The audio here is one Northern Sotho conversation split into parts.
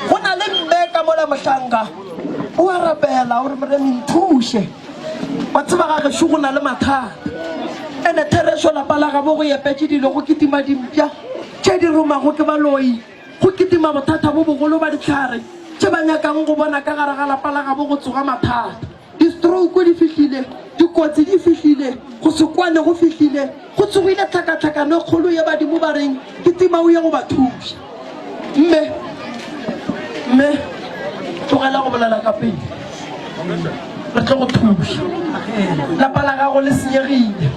go na le mme ka mola mohlanka o a rapela gore moremi nthuše wa tseba ga gešo go na le mathata ene therešo lapa la gabo go yepetse dilo go kitima dimpša tše di romago ke baloi go kitima bothata bo bogolo ba ditlhare tše ba nyakang go bona ka gare ga lapa la gabo go tsoga mathata Distrouku di fihlile, dikotsi di fihlile, go se kwane go fihlile, go tsogile tlhakatlhakano e kgolo ye badimo ba reng ke timau ya go ba thuša. Mme, mme, tlogela go bolela ka pelo. Re tlo go thuša. Lapa la gago le senyegile.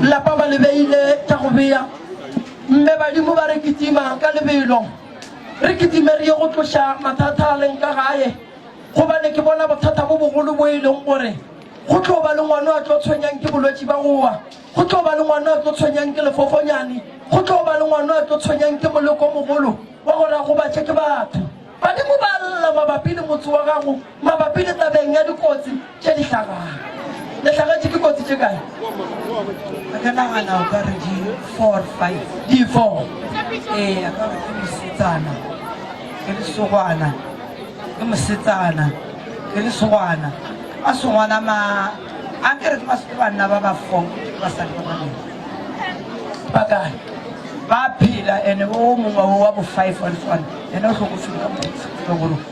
Lapa ba le beile tša go bea. Mme badimo ba re kitima ka lebelo. Re kitime re ye go tloša mathata a leng ka gae. Gobane ke bona bothata bo bogolo bo e leng gore go tlo ba le ngwana a tlo tshwenyang ke bolwetši ba gowa, go tlo ba le ngwana a tlo tshwenyang ke lefofonyane, go tlo ba le ngwana a tlo tshwenyang ke moleko mogolo wa gore a gobatše ke batho. Badimo ba a lla mabapi le motse wa gago, mabapi le tabeng ya dikotsi. tše di hlabang. Le hlagetše ke kotsi tše kae? A ka nagana o ka re di four five. Di four? Ee, a ka re ke mosetsana, ke lesogwana, ke mosetsana, ke lesogwana. Masogwana ma a ke re ke masogwana banna ba ba four basadi ba babedi. Ba kae? Ba phela ene o mongwe o wa bo five wa lesogwana ene o hlokofile ka mokgwa o ke se tsebe gore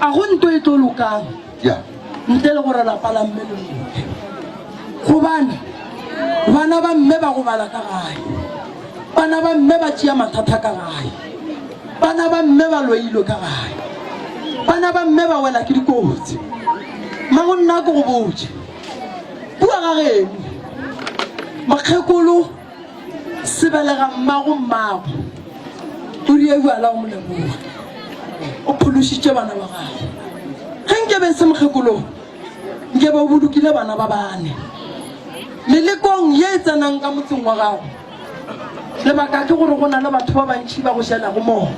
a go nto e tlo lokang ntle le gore lapa la mme le loke gobane bana ba mme ba go bala ka gae bana ba mme ba tšea mathata ka gae bana ba mme ba loilwe ka gae bana ba mme ba wela ke dikotsi ma go nna ko go botse bua ga geno makgekolo Sebelega mmago mmago o rile ewa la o mo leboga o phološitše bana ba gago. Ge nke be e se mokgekolo nke be o bolokile bana ba bane melekong ye e tsenang ka motseng wa gago. Lebaka ke gore go na le batho ba bantši ba go jelago mogo.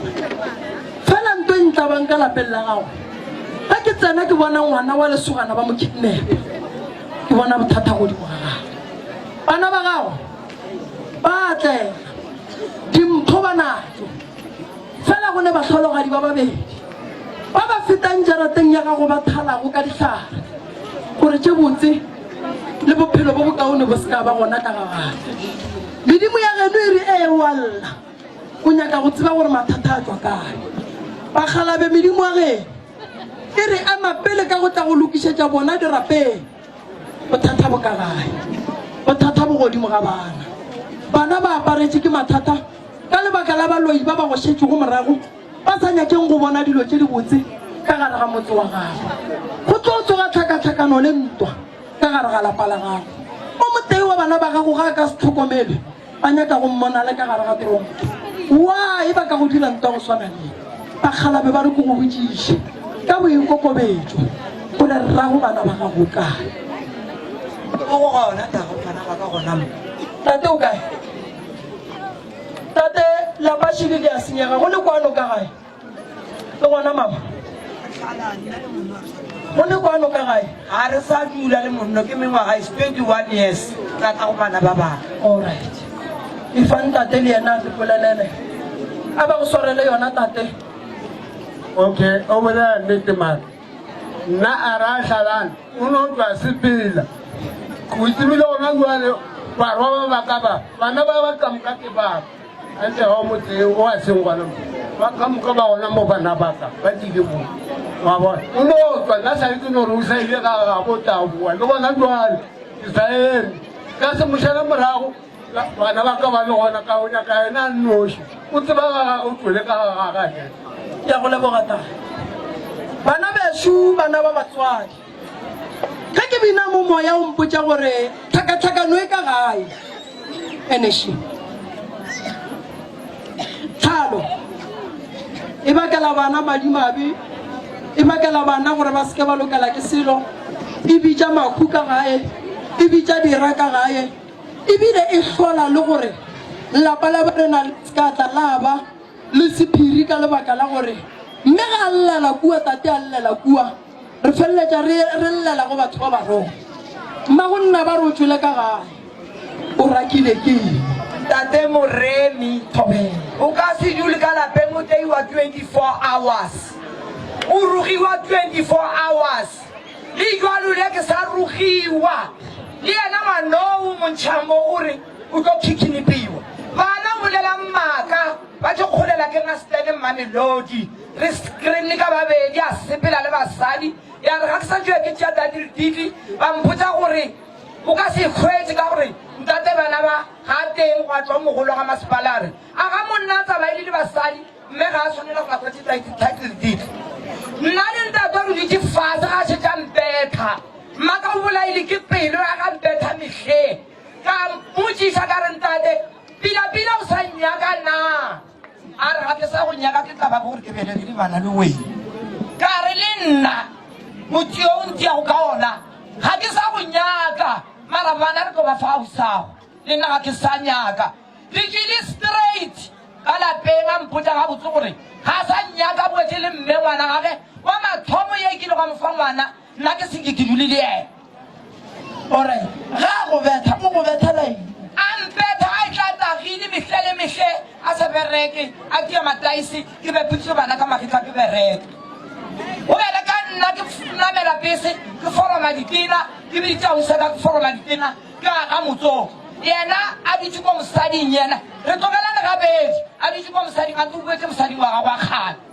Fela nto e ntlabang ka lapeng la gago ge ke tsena ke bona ngwana wa lesogana ba mo kidnapa ke bona bothata godimo ga gago. Bana ba gago ba a tlela, dimpho ba natso. Fela go ne bahlologadi ba babedi ba ba fetang jarateng ya gago ba thalago ka dihlare gore tše botse le bophelo bo bokaone bo se ka ba gona ka gagate. Medimo ya geno e re, Ee, o a lla. O nyaka go tseba gore mathata a tšwa kae. Ba kgalabe medimo ya geno e re ema pele ka go tla go lokišetša bona dirapeng. Bothata bo ka gae. Bothata bo godimo ga bana. Bana ba aparetše ke mathata ka lebaka la baloi ba ba go šetšego morago ba sa nyakeng go bona dilo tše dibotse ka gare ga motse wa gago. Go tlo tsoga tlhakatlhakano le ntwa ka gare ga lapa la gago. O motee wa bana ba gago ga a ka se tlhokomelwe, ba nyaka go mmona le ka gare ga tronki. Wa e ba ka go dira ntwa go swana le ye, bakgalabe ba re ke go botšiše ka boikokobetšo gore rrago bana ba gago kae. Mo go ga ona tago ngwana wa ka gona mo. Tate o kae? Tate, Lapashike ke a senyega, go le kwano ka gae? Le gona mama go le kwano ka gae ga re sa dula le monno ke mengwaga is 21 years ka tla go bana ba baka allright e fa ntate le yena a re polelele a ba go swarele yona tate okay over there nnete mara nna a ra tlhalane o ne o tla sepela o tsebile gona jale barwa ba baka ba bana ba ba tlamoka ke baka A tle ao motse o a seng gona mo. Ba ka moka ba gona mo bana ba ka ba tlile mo. Wa bona? O no tswa, nna sa le ke no re o sa ile ga ga bo taboa le gona jwale ke sa eme. Ka se mošale morago bana ba ka ba le gona ka o nyaka yena a nnoši. O tseba ga gagwe o tswele ka ga gagage. Ke a go leboga, Tata. Bana bešo, bana ba batswadi. Ge ke bina mo moya o mpotša gore tlhakatlhakano e ka gae. Eneši. Tlhalo. E bakela bana madimabe. E bakela bana gore ba seke ba lokela ke selo. E bitša mahu ka gae. E bitša dira ka gae. Ebile e hlola le gore lapa la ba rena le seka tla la ba le sephiri ka lebaka la gore mme ga a llela kua tate a llela kua. Re feleletša re re llela go batho ba barong. Mmago nna ba re o tšwele ka gae. O rakile ke eng? Tate Moremi, o ka se dule ka lapeng o teiwa 24 hours. O rogiwa 24 hours. Le jwalo le ke sa rogiwa. Le yena ngwanoo o montšha mo o re o tlo khikinipiwa. Bana o bolela mmaka ba tlo kgolela ke Masetene Mmamelodi. Re screen ka babedi, a sepela le basadi. Ya re ga ke sa tšewa ke tšea Dadi Letitli, ba mpotsa gore o ka se e hwetše ka gore ntate bana ba ga a teng, gwa tšwa o mogolo wa ga masepala a re, A ga monna a tsamaile le basadi, mme ga a swanela go ba fa tšetaiti Dadi Letitli. Nna le ntatwa re dutše fase ga a šetše a mpetha. Mmaka o bolaile ke pelo ya ga mpetha mehleng. Ka mmotšiša ka re, Ntate, Pila-pila o sa nnyaka na? A re, Ga ke sa go nyaka, ke tla ba gore ke bele re lebana le wena. Ka re, Le nna, motse yo o ntiago ka ona, ga ke sa go nyaka. Mara bana, re tlo ba fa ausago. Le nna ga ke sa nyaka. Re tšwile straight ka lapeng, a mpotša gabotse gore ga a sa nnyaka, a boetše le mme ngwana gage wa mathomo yo e kilego a mo fa ngwana. Nna ke seke ke dule le yena. O re, Ge a go betha, o go bethela eng? A mpetha a etla a tagile mehla le mehle, a sa bereke, a tia mataese, ke bepetše bana ka magetla ke bereka. O bele ka nna, ke namela bese, ke foroma ditena, ke bitša ausi ka ke foroma ditena, ke aga motsoko. Yena a dutše kwa mosading, yena re tlogelane gabedi, a dutše kwa mosading, a ntokuetše mosading wa gagwe wa kgale.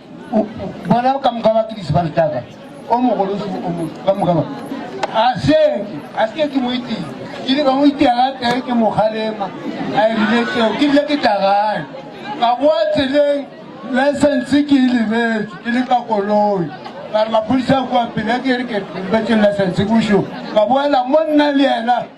bona ka moka ba kidisi ba ntaka o mogolo se o mo ka moka ba a se a se ke mo itse ke le ka mo itse ga te ke mo khalema a e rile tseo ke le ke tagale ka go tseleng license ke le be ke le ka koloi ka mapodisa kwa pele ke re ke ba tsela sentse busho ka boela monna le yena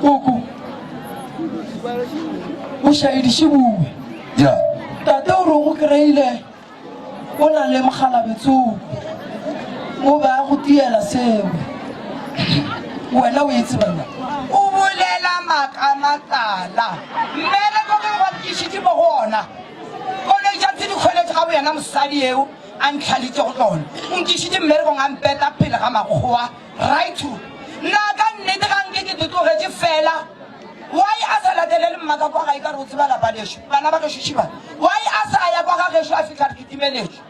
Koko, o šaediše bue. Ya. Tate o re o go kreile o na le mokgalabetsoko, o be a go tiela seo. Wena o e tseba na? O bolela makamatala. Mme le ko ke go bapkišitše mo go ona. Koloi tša tse di kgweletše ga boyena mosadi eo a ntlhalitše go tsona. O nkišitše mmerekong a mpeta pele ga makgowa. Raitu, Na ka nnete ga nke ke te tlogetše fela? Why a sa latelele mmaka kwa gae ka re o tseba lapa lešo? Bana ba gešo šiba, why a sa ya kwa ga gešo a fihla re kitimeletšwe?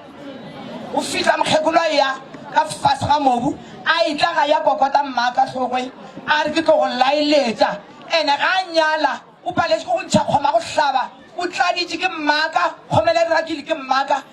O fihla mokgekolo a eya ka fase ga mobu a etla ga ya kokota mmaka hlogwe a re ke tlo go laeletša. Ene ga a nyala o paletše ke go ntšha kgoma go hlaba, o tladitše ke mmaka, kgomele e re rakile ke mmaka.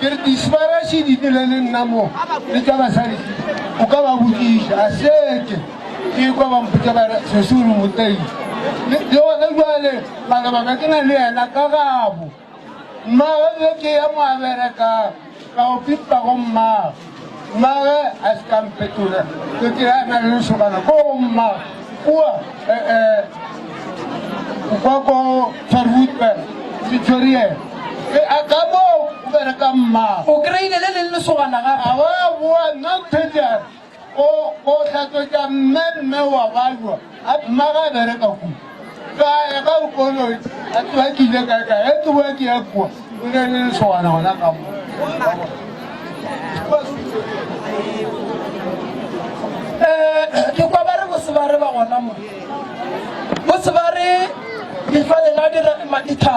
ke re disbarashe di dile le nna mo le tsa basadi o ka ba botsiša a seke ke kwa ba mpotsa ba sesolo motei le gone jale malebaka ke na le yena ka gabo mmae ke ya mo a bereka ka o pipa go mmae Mmaagwe a se ka mpetola, ke ke a na le lesogana ko go mma kua kwa ko Farwoodburg, Victoria. E a ka mo o bereka mma. O kry-ile le leng lesogana gape? A wa boa, nna o thetsang o o hlatswetsa mme mme wa balwa. A mma ga bereka ku. Ka ya ka u kono a twa ki le ka ka e tu wa ki ya ku. U ne le so wa na na ka mo. Eh ke kwa ba re go se ba re ba gona mo. Go se ba re di fa le na di re ma di tha.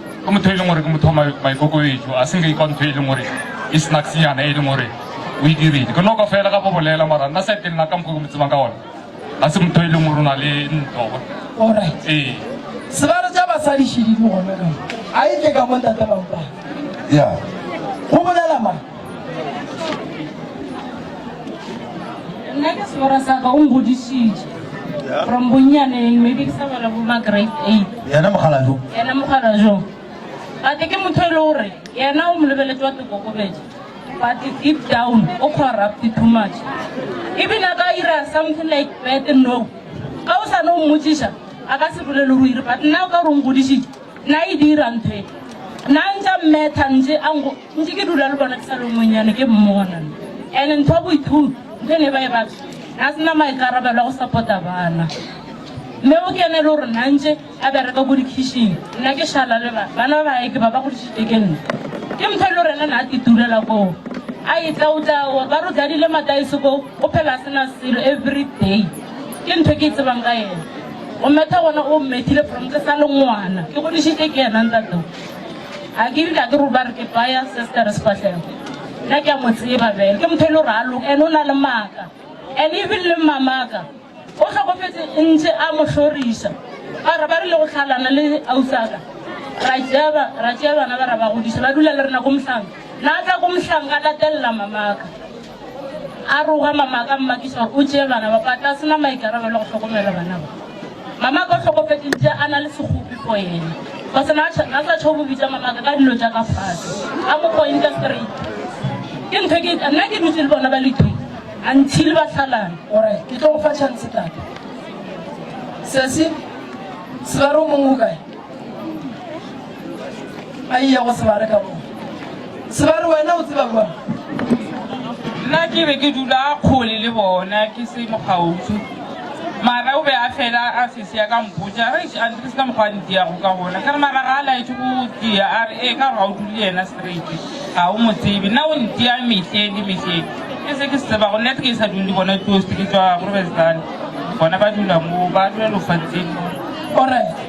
Ke motho e leng gore ke motho wa maikokobetšo, a se nka ikwa ntho e leng gore e snacksnyana e leng gore o e dirile. Ke noka fela ga bo bolela mara nna sa teng nna ka mokgwa ke mo tsebang ka gona ga se motho e leng gore o na le ntlo. Alright. Ee. Sebalo tša basadi šidi di gona ka mo. A e tle ka mo ntate Mampane. Yeah. Go bolela mang? nna ke sebora sa ka o ngodišitše from bonnyaneng maybe ke sa bala bo ma grade eight yena mokgalajo yena mokgalajo gate ke motho e le gore yena o mo lebeletse wa tekokobetša but deep down o corrupt too much ebile a ka ira something like bad no ka o sane o mmotsiša a ka se bolele go ire but nna o ka re o ngodišitše Na e dira ntho e. Na ntša mmetha ntše a nko ntše ke dula le bona ke sa le monyane ke mmona. Ene ntho ya boithuti ntho e ne ba e batla na se na maikarabelo a go sapota bana. Mme o kene le gore na ntše a bereka ko dikhišing nna ke šala le ba bana ba bae ke ba ba godišitše ke nna. Ke mphe le rena na ke tulela koo a etla o tla gore ba re o tladile mataese koo o phela a sena selo everyday ke ntho ke e tsebang ka ena. O metha gona o mmethile from ke sa le ngwana ke godišitše ke yena ntateo a ke dika ke ruba re ke baya se se ka re sefahlego nna ke a mo tseba bele ke motho e le gore a loka ene o na le maaka and even le mmamaka o tlhokofetse ntse a mo hloriša ba re ba re le go tlhalana le ausaka ra jeba ra tšea bana ba ra ba godiša ba dula le rena ko mohlang na tla ko mohlang ka latelela mamaka A roga Mamaka, Mmakišwa o tšee bana ba ba tla sena maikarabelo go hlokomela bana ba. Mamaka o hlokofetše ntše a na le sekgopi for yena. Kgosana a tšha, a sa tšho go bitša Mamaka ka dilo tša ka fase, a mo pointa straight. Ke ntho e ke, nna ke dutše le bona ba le two until ba hlalana. O re, Ke tlo go fa chance tate. Sesi, Sebare o mong o kae? a iya go sebare ka mo sebare wena o tseba kwa nna ke be ke dula kgole le bona ke se mokgautsu mara o be a fela a sese ya ka mpotsa re a ntle se ka mokgwa a ntiyago ka gona ka re mara ga a laetse go tia a re ee ka gore ga o dule yena straight ga o mo tsebe nna o ntia mehle le mehle ke se ke se tseba go nna ke sa dule le bona toast ke tswa grobestan bona ba dula mo ba dula lofatseng orit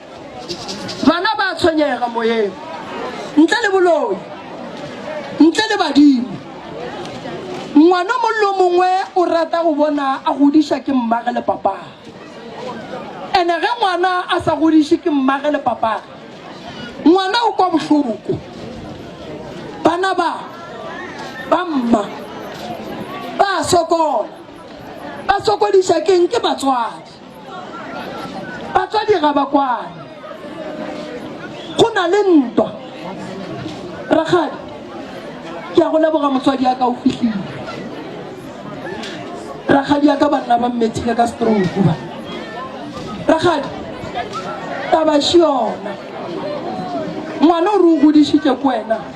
Bana ba a tshwenyega moyeng. Ntle le boloi. Ntle le badimo. Ngwana o mong le o mongwe o rata go bona a godiša ke mmage le papage. Ene ge ngwana a sa godišwe ke mmage le papage, ngwana o kwa bohloko. Bana ba, ba mma, ba a sokola. Ba sokodiša keng? Ke batswadi. Batswadi ga ba kwane. Go na le ntwa. Rakgadi, ke a go leboga motswadi ya ka o fihlile. Rakgadi ya ka ba nna ba mmethile ka stroke ba. Rakgadi, taba še yona. Ngwana o re o godišitše ko wena.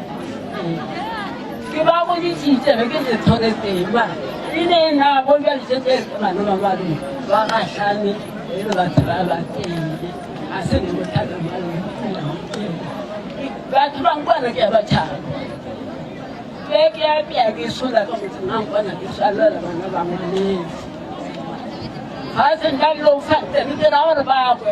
ke ba go ditšitše be ke se tlhoke teng ba e ne e nago jwa ditšete ke bana ba ba reng ba gahlane e le batho ba ba teng a se ne bothata ba le batho ba nkwana ke ba tšhaba ke ke ya pea ke sola ka motseng a nkwana ke swalela bana ba ngwaneng ga se nka lo fa teng ke ra gore ba kwe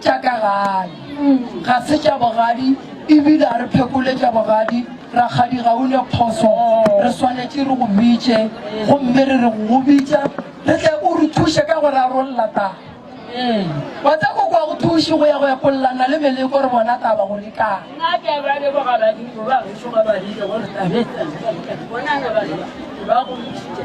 Tša ka gae ga se tša bogadi ebile a re phekole tša bogadi. Rakgadi ga o ne phoso, re swanetše re go bitše gomme re re go go bitša re tle o re thuše ka go rarolla taba. Ee, wa tseba koko a go thuše go ya go epollana le Meleko re bona taba gore e kae. Nna ke a ba leboga badimo ba gešo ba ba rile gore taba e tsamaye. Bonana ba ba go ntšhitše.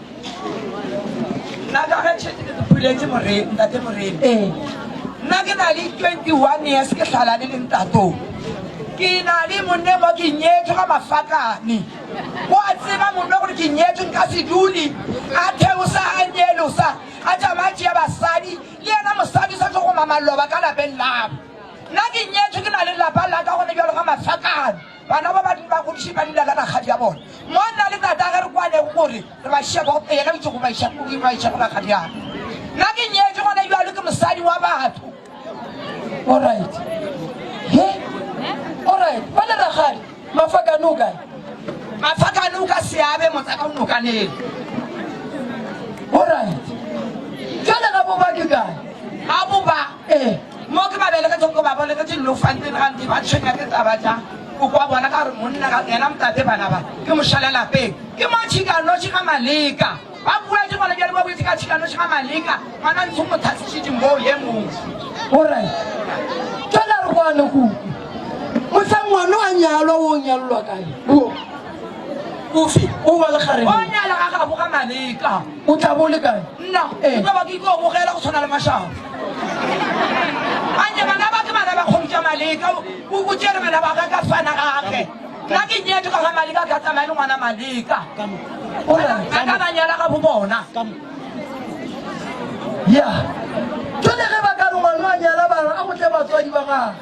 nna ka ge tšhete ke puletse moreni ntate moreni ee. nna ke na le 21 years ke tlhala le lentatong ke na le monne mo ke nyetswe ka mafakane go a tseba monne gore ke nyetswe nka se dule a theosa a nyelosa a tšama tšea basadi le yena mosadi sa tlo go mamaloba ka lapeng labo nna ke nyetswe ke na le lapa la ka gone bjalo ka mafakane Bana ba bandi ba godiše ba leina la rakgadi ya bona. Mo nna le tatagwe re kwanego gore re ba šiša kwa go yena, bitše go ba iša go ba iša go rakgadi ya ka. Nna ke nyetšwe gona bjalo ke mosadi wa batho. All right. He? All right. Ba le rakgadi mafakane o kae? Mafakane o ka seabe motsaka o nokaneng. All right. Jwale ga bo ba ke kae? Ga bo ba. Ee, mo ke ba belegetšego ke ba bolegetše Llofanteni gantši ba tshwenya ke taba tša go kwa bona ka gore monna ka yena motate bana ba ke mošala lapeng ke mo tšhikanoši ga Maleka ba bua ke gona bjale ba boetse ka tšhikanoši ga Maleka ngwana ntsho mo thatsišitše moo ye mongwe gore tšona re bone go mosang ngwana a nyalwa o nyalelwa kae o o nyala ga gago ga Maleka O tla bo o le kae? Nna, ke tlo ba ke ikwa go bogela go tshwana le mashabo. Anye bana ba ke bana ba kgobitša Maleka, o o tšere bana ba ga ka swana gage. Nna ke nyetšwe ka ga Maleka, ke a tsamaya le ngwana Maleka. O ra, a ka ba nyala ga bo bona. Ya, jwale ge ba ka re ngwana a nyala bana, a go tle batswadi ba gage.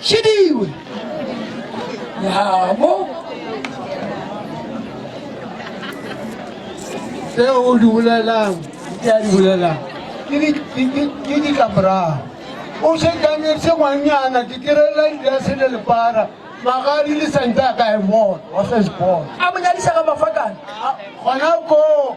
Chidiwe. Yabo. Seo o di bolelang, ke a di bolelang. Ke di ka morago. O se kametse ngwanyana ditirela di ya sele lepara magadi le santa ka e bona wa se se bona a mo nyadisa ka mafakana gona koo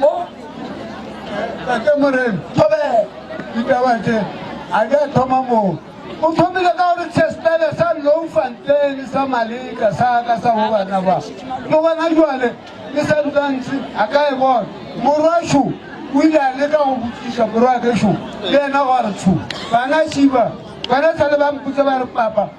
mo tate moreno thobe ditaba tše a di a thoma moo o thomile ka gore sespele sa loufanteng sa maleka sa ka sa go bana ba le gona jale le sa dutantse a ka e bona morwašo o ile a leka go botsiša morwa kešo le ena gore tsho bana šiba bana sa le ba mpotse ba re papa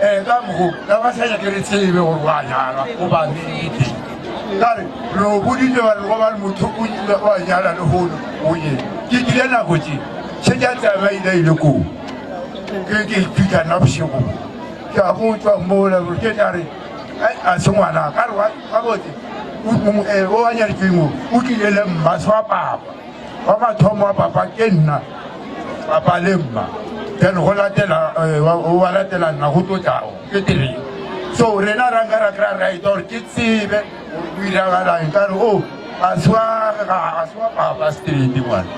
ee ka mgo ka ba sa nyake re tsebe gore wa nyala o ba nete kare re o boditse ba re go ba le motho o ile wa nyala le hono o ye ke kile nako tse se ja tsaba ile ile ko ke ke ithuta na bosigo ke a go tswa mola gore ke tla re a se ngwana ka re wa botse o nyaletseng o tlile le mmaswa papa wa mathomo wa papa ke nna papa le mma then go latela eh, wa latela nna go tlo tlago ke tereng so rena ra nka ra kry-a right gore ke tsebe o iragalang ka re o ga se wa papa straight ngwana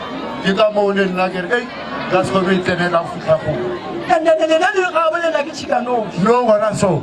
ke ka moo le nna ke re ei ka sekome e tsenela futlha goo no gona so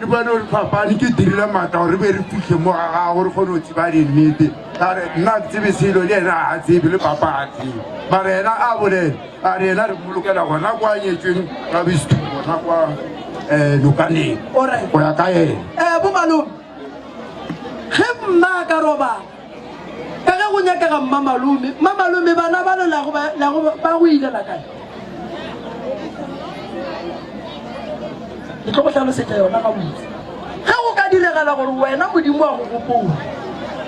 Ke bone gore fapane ke dirile maatla gore re be re fitlhe mo ga gago re kgone go tseba dinnete are nna ke tsebe selo le ena a tsebe le papa a tsebe mara ena a bolele a re ena re bolokela gona kwa nyetsweng ka bestu gona kwa um eh, lokaneng go ya ka ena eh, bomalome ge mma ka roba ka ge go nyakega mmamalome mmamalome bana ba lelago ba go ilela kae ke tlo go tlhalosetsa yona ga botse ge go ka diregala gore wena modimo wa go gopola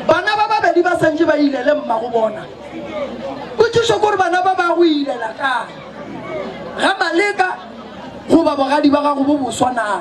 bana ba babedi ba santse ba ilele mma go bona kotšišo kore bana ba ba go ilela kae ga maleka goba bogadi ba gago bo boswa naa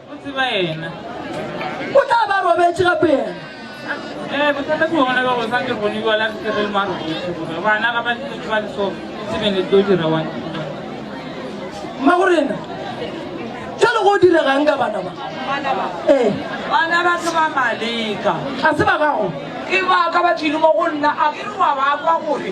O tseba yena. O tla ba robetše gape yena. Eh, bothata ke bona ba go sa ke bone bjala re tle re le maro gore bana ga ba ntse ke ba le so tsebeng le tlo dira wa mma go rena jalo go diregang ka bana ba ee eh. bana ba se ba maleka ga se ba gago ke baka ba tlile mo go nna a ke re wa ba kwa gore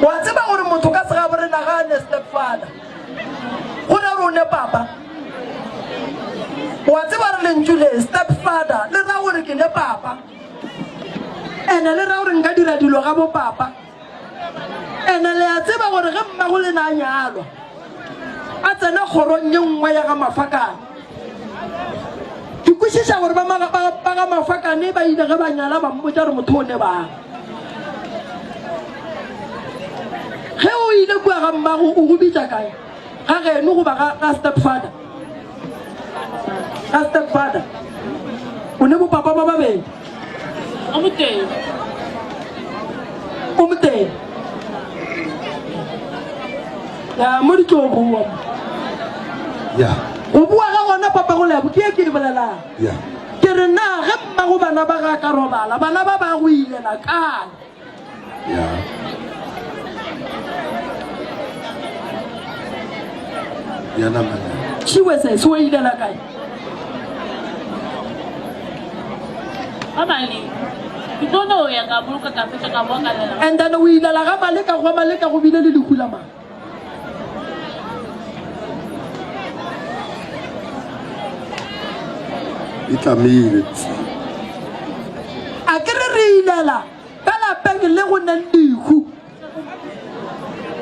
wa tseba gore motho ka segabore nagane stepfather go ra rone papa wa tseba re lentšu le stepfather le ra gore ke ne papa ene le ra gore nka dira dilo ga bo papa Ene le a tseba gore ge mmagole na a nyalwa, a tsena kgorong ye nngwe ya ga Mafakane. Ke kwešiša gore ba ma- ba- ba ga Mafakane ba ile ge ba nyala ba mmotša gore motho o ne bang. Ge o ile kua ga mmago o go bitša kae? Ga geno goba ga ga stepfather? ka stepfather o ne bopapa ba babedi o motee o motee ya mo di tlo bua ya go bua ga gona papa go lebo ke e ke di bolelang ya ke re na ge mmago bana ba ga ka robala bana ba ba go ilela kae And then o ilela ga Maleka, gwa Maleka go bile le lehu la mang? e tlamile a ke re re ilela ka lapeng le go neng dikhu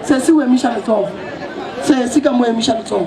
se se o emiša letsogo se se ka mo emiša letsogo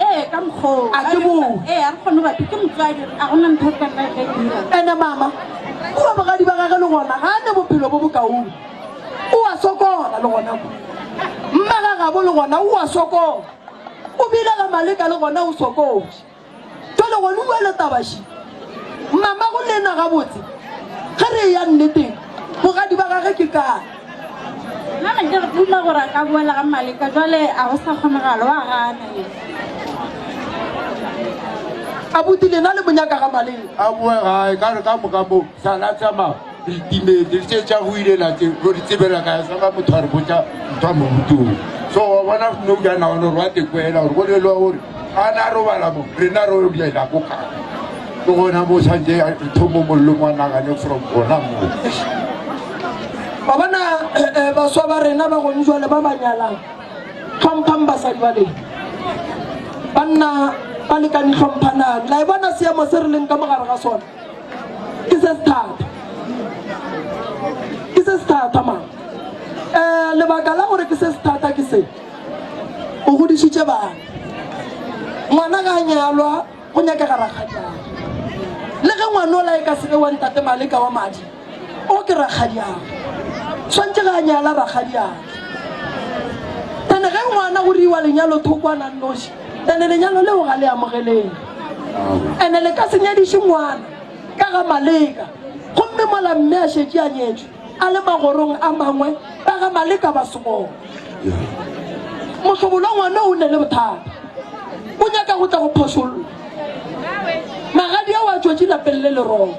Ee, ka mokgwa oo. A ke moo? Ee, a re kgone go bapisa. Ke motswadi, a go na ntho re ka nna re ka e dira. And-e mama, kua bogadi ba gage le gona ga a ne bophelo bo bokaone. O a sokola le gona kua. Mmagagabo le gona o a sokola. O bile ga Maleka le gona o sokotše. Jwale gone o bua le taba še. Mama, go le nna gabotse, ge re eya nneteng, bogadi ba gage ke kae? Nna ne ke duma gore a ka boela ga Maleka, jwale a go sa kgonagalo, wa gana ye. Abuti lena le monyaka ga Maleka? A boe gae, ka re ka moka mo sa la tsamaya re timetse, re tše tša go ile la tse go di tsebela ka sa ka motho a re botsa ntho a mo rutong. So wa bona no ja na gore wa te kwela gore go le lo gore ga na robala mo rena ro diela ko ka ke gona mo santse ya thomo mollo mo nagane from gona mo ba bona eh, eh, baswa ba rena ba gone jwale ba ba nyalang tlhomphang basadi ba leng banna ba lekane tlhomphanang la e bona seemo se re leng ka mogare ga sone ke se se thata ke se se thata mang um lebaka la gore ke se se thata ke se O godišitše bana. Ngwana ga a nyalwa, go nyakega rakgadiago. Le ge ngwanola e ka se be wa ntate Maleka wa madi, o ke rakgadiago. Swantše ga a nyala rakgadiago. Tane ge ngwana go riwa lenyalo thoko a nang noši, tane lenyalo leo ga le amogeleng. Ene le ka se nyadiše ngwana ka ga Maleka. Gomme mola mme a šetše a nyetšwe, a le magorong a mangwe ba ga Maleka ba somong. Mohlobolo ngwana o ne le bothata, o nyaka go tla go phošolla. Magadia wa tšwetše lapeng le lerong.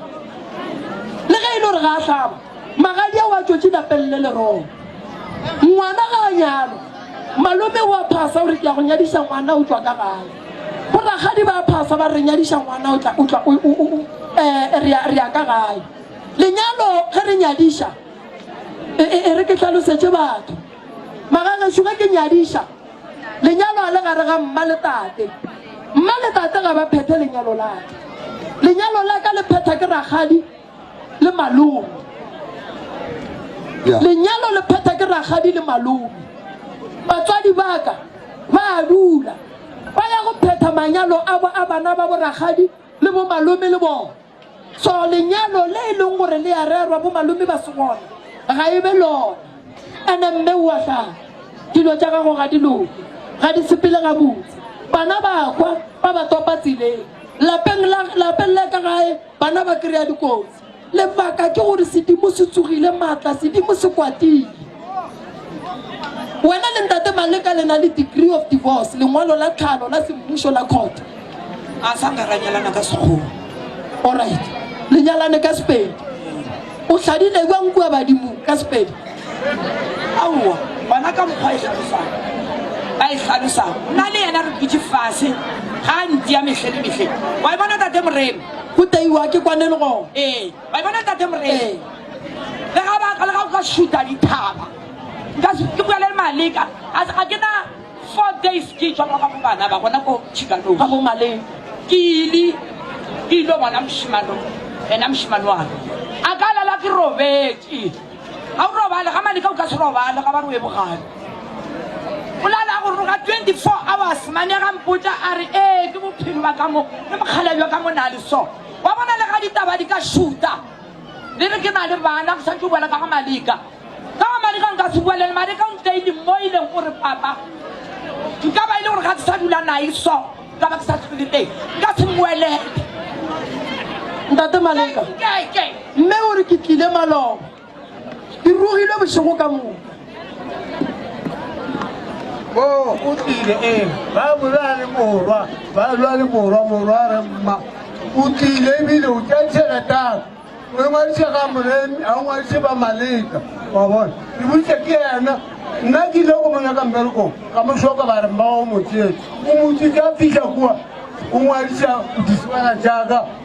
Le ge e le gore ga a hlaba, Magadia wa tšwetše lapeng le lerong. Ngwana ga a nyalwa, malome wa phasa o re ke a go nyadiša ngwana o tšwa ka gae. Bo rakgadi ba phasa ba re nyadiša ngwana o tla, o tla, o, o, o, eh, re ya, re ya ka gae. Lenyalo ge re nyadiša, e, e, e re ke hlalosetše batho. Magagešo ge ke nyadiša, lenyalo a le gare ga mma le tate. Mma le tate ga ba phethe lenyalo la ka. Lenyalo la ka le phetha ke rakgadi le malome. Yeah. Lenyalo le phetha ke rakgadi le malome. Batswadi ba ka ba a dula ba ya go phetha manyalo a bo a bana ba bo rakgadi le bo malome le bona. So lenyalo le e leng gore le a rerwa bo malome ba segona ga e be lona. Ene mme o a hlaya dilo tša gago ga di loke, ga di sepele gabotse. Bana ba kwa ba ba topa tseleng. Lapeng la lapeng la ka gae bana ba kry-a dikotsi. Lebaka ke gore sedimo se tsogile maatla, sedimo se kwatile. wena le ntate maleka le na le degree of divorce lengwalo la tlhalo la semmušo la court a sa nka ra nyalana ka sekgowa allright le nyalane ka sepedi o tlhadile kwa nkua badimo ka sepedi aowa gona ka mokgwa e tlhalosang a e tlhalosang nna le yena re dutse fase ga a ntia metlhe le metlhe wa e bona tate moreme go teiwa ke kwane le gone ee Ba e bona Tate Moreng. Le ga ba ka le ga go shuta dithaba. Nka se ke bua le Malika. A se ga ke na four days ke tswa ga bana ba bona ko Chicano. Ga go male ke ile ke ile bona moshimano. Ena moshimano wa ka. A ka lala ke robetse. Ga o robale ga Malika o ka se robale ga ba re o e bogale. O lala go roga 24 hours mane ga mpotsa a re ee ke bophelo ba ka mo le mokgalabjo ka mo na le so. Wa bona lega ditaba di ka šuta le re ke na le bana, go swanetše o boela ka ga Malika. Ka ga Malika nka se boele le Malika o ntlaile mo e leng gore papa nka ba e le gore ga ke sa dula nae so ka ba ke sa tlogile teng nka se mmoelele. Ntate Maleka, mme o re ke tlile maloba. Ke rogile bošego ka moka. O o tlile e ba bola le morwa ba lwa le morwa morwa re mma o tlile ebile o tša tšheletang o ngwadiša ga moremi a o ngwadiše ba maleka wa bona ke botša ke yena nna ke ile go monyaka mmerekong ka mošoka ba re mmago motsetse o motsetse a fiša kua o ngwadiša go diswana jaaka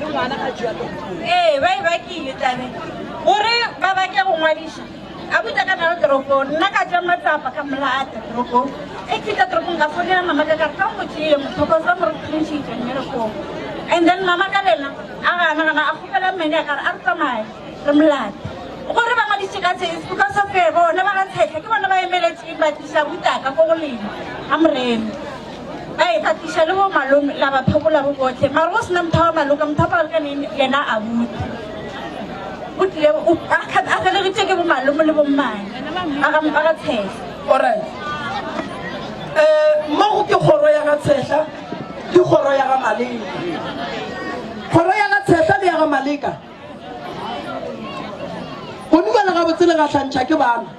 le ngwana ga jalo ee ba e bakile tlabe gore ba bake go ngwadiša a buta ka nalo toropong nna ka ja matsapa ka molata toropong e fita toropong ka fonela mama ka kare ka motsile mothoko sa mo re thuntšhitse mmerekong and then mama ka lena a gana gana a kgopela mmene a kare a re tsamaye re molate gore ba ngwadise ka tsese because of bone ba ga tshetlha ke bone ba emeletseng ba tlisa butaka ko go lena ga morena ba e tlatliša le bo malome la ba phekola bo bohle mara go sena motho wa maloka motho wa maloka ne yena a bute o tlile a felegetše ke bo malome le bommane ba ga ba ga tshehla alright um mo go ke kgoro ya ga tshehla ke kgoro ya ga maleka kgoro ya ga tshehla le ya ga maleka go dumela gabotsele ga tlhantšha ke bana